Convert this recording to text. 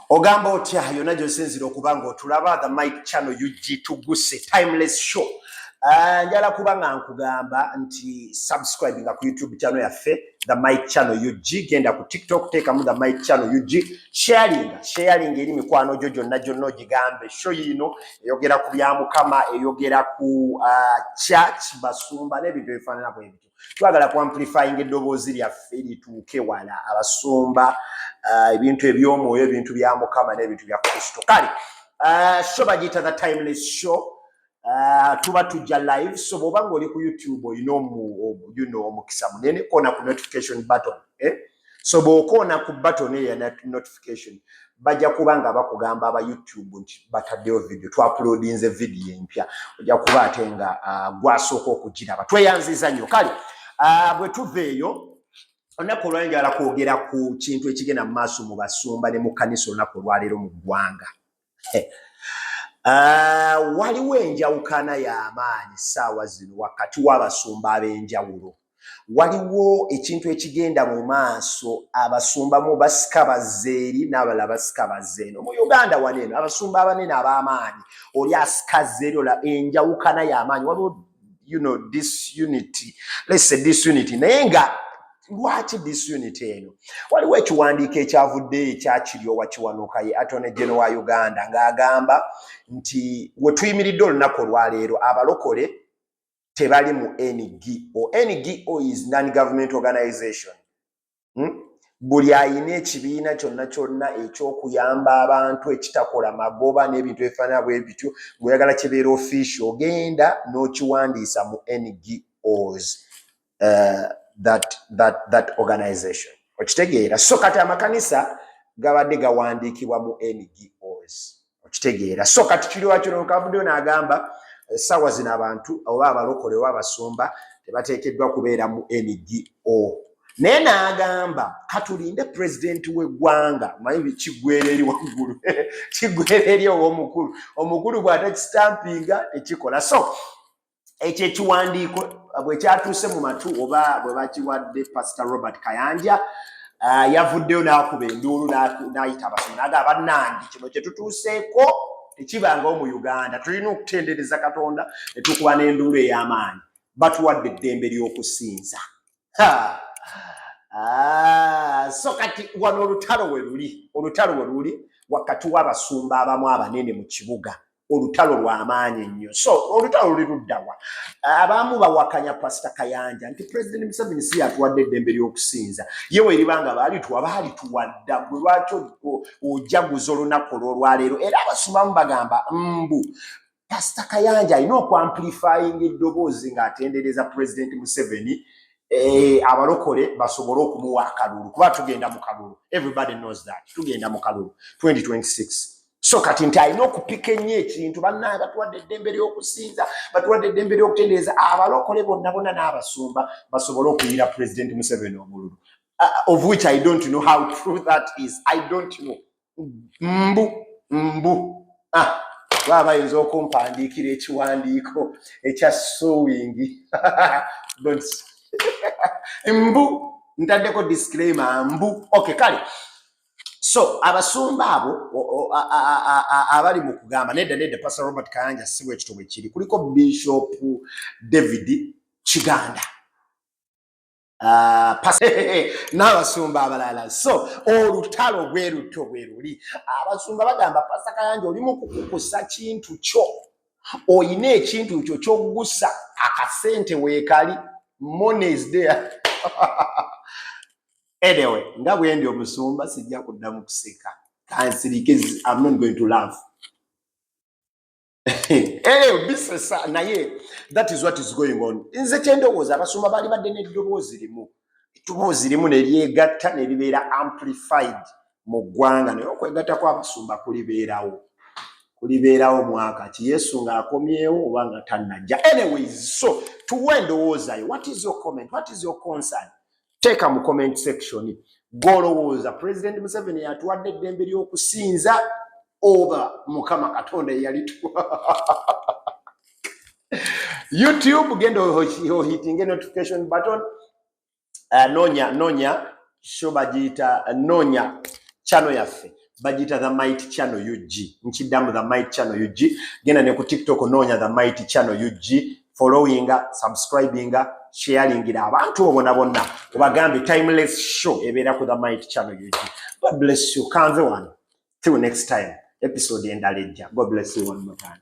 ogamba otya yona gyosinzira okuba nga otulaba the mike chano ug tuguse timeless show ah, njala kuba nga nkugamba nti subscribe nga ku youtube chano yaffe the mike chano ug genda ku tiktok teekamu the mike chano ug sharinga sharinga eri mikwano gyo gyonna gyonna ogigambe sho yiino eyogera ku bya mukama eyogera ku ah, church basumba n'ebintu ebifaanana bwebityo twagala ku amplifying eddoboozi lyaffe lituuke wala abasumba uh, ebintu eby'omwoyo ebintu bya mukama n'ebintu bya kristo kale uh, sho bagiyita the timeless show uh, tuba tujja live so bw'oba ng'oli ku youtube olina omukisa munene kona ku notification button eh? so bwokoona ku button eyo ya notification bajja kuba nga bakugamba aba youtube nti bataddeyo video twapulodinze video empya ojja kuba ate nga uh, gwasooka okugiraba tweyanziza nnyo kale uh, bwe tuva eyo olunaku olwali njala kwogera ku kintu ekigenda mu maaso mu basumba ne mu kanisa olunaku olwaleero mu ggwanga Ah, waliwo enjawukana y'amaanyi ssaawa zino wakati w'abasumba ab'enjawulo waliwo ekintu ekigenda mu maaso abasumba mu basika bazze eri n'abala basika bazze eno mu uganda wano eno abasumba abanene ab'amaanyi oli asika zze eri ola enjawukana y'amaanyi waliwo you know disunity let's say disunity naye nga lwaki disunity eno waliwo ekiwandiiko ekyavudde ekyakiryowa kiwanuka ye atone geno wa uganda ng'agamba nti wetuyimiridde olunaku olwaleero abalokole tebali mu ngo ngo is non government organization hmm? buli ayina ekibiina kyonna kyonna ekyokuyamba abantu ekitakola magoba n'ebintu ebifaanana bwe bityo ngaoyagala kibeera ofiisi ogenda n'okiwandiisa mu ngos uh, that, that, that organization okitegeera so kati amakanisa gabadde gawandiikibwa mu ngos okitegeera so kati kiriwakirooka avuddeyo n'agamba essaawa eh, zino abantu oba abalokole oba abasumba tebateekeddwa kubeera mu ngo naye n'agamba katulinde pulezidenti w'eggwanga manyi kiggwera eri waggulu kiggwera eri ow'omukulu omukulu bw'atakisitampinga tekikola so ekyo ekiwandiiko bwekyatuuse mu matu oba bwe bakiwadde pasita robert kayanja uh, yavuddeyo n'akuba enduulu n'ayita abasomi naga bannange kino kye tutuuseeko tekibangawo mu uganda tulina okutendereza katonda ne tukuba n'enduulu ey'amaanyi batuwadde eddembe ly'okusinza Ah, so kati wano olutalo we luli olutalo we luli wakati w'abasumba abamu abanene mu kibuga olutalo lwamaanyi nnyo so olutalo luli luddawa abaamu bawakanya pasita kayanja nti pulezidenti museveni si yatuwadde eddembe ly'okusinza ye weriba nga baalituwa baalituwadda gwe lwaki ojaguza olunaku olwolwaleero era abasumamu bagamba mbu pasita kayanja alina okwamplifayinga eddoboozi ng'atendereza pulezidenti museveni Eh, abalokole basobole okumuwa akalulu kuba tugenda mu kalulu everybody knows that tugenda mu kalulu 2026 so kati nti alina okupika ennyo ekintu bannaaye batuwadde eddembe ly'okusinza batuwadde eddembe ly'okutendereza abalokole bonna bona n'abasumba basobole okuyira pulezidenti museveni omululu uh, of which i don't know how true that is i don't know mbu mbu ah, baba bayinza okumpandiikira ekiwandiiko ekya sowingi mbu ntaddeko disclaimer mbu okay kale so abasumba abo abali mu kugamba nedda nedda pastor robert kayanja sibwa ekito bwe kiri kuliko bishop david kiganda ah, n'abasumba abalala so olutalo bwe lutyo bwe luli abasumba bagamba pasa kayanja oli mu kukukusa kintu kyo olina ekintu kyo kyogusa akasente weekali money is there anyway nga bwendi omusumba sijja kuddamu kuseka kansirike am not going to love Eh, bisesa naye that is what is going on nze kyendowooza abasumba baali badde n'eddoboozi limu eddoboozi limu neryegatta neribeera amplified mu ggwanga naye okwegatta kwabasumba kulibeerawo kulibeerawo mwaka ki yesu ng'akomyewo oba nga tannajja anyways so tuwa endowoozayo what is your comment what is your concern teeka mu comment section gwolowooza president museveni yatuwadde eddembe ly'okusinza oba mukama katonda eyalitu youtube genda ohitinge notification button uh, nonya nonya sho bagiyita nonya chano yaffe bagiyita the might channel ug nkiddamu the might channel ug genda ne ku tiktok noonya the might channel ug followinga subscribinga sharingira abantu obona bonna obagambe timeless show ebeera ku the might channel ug god bless you kanze wano till next time episode endala ejja god bless you one more time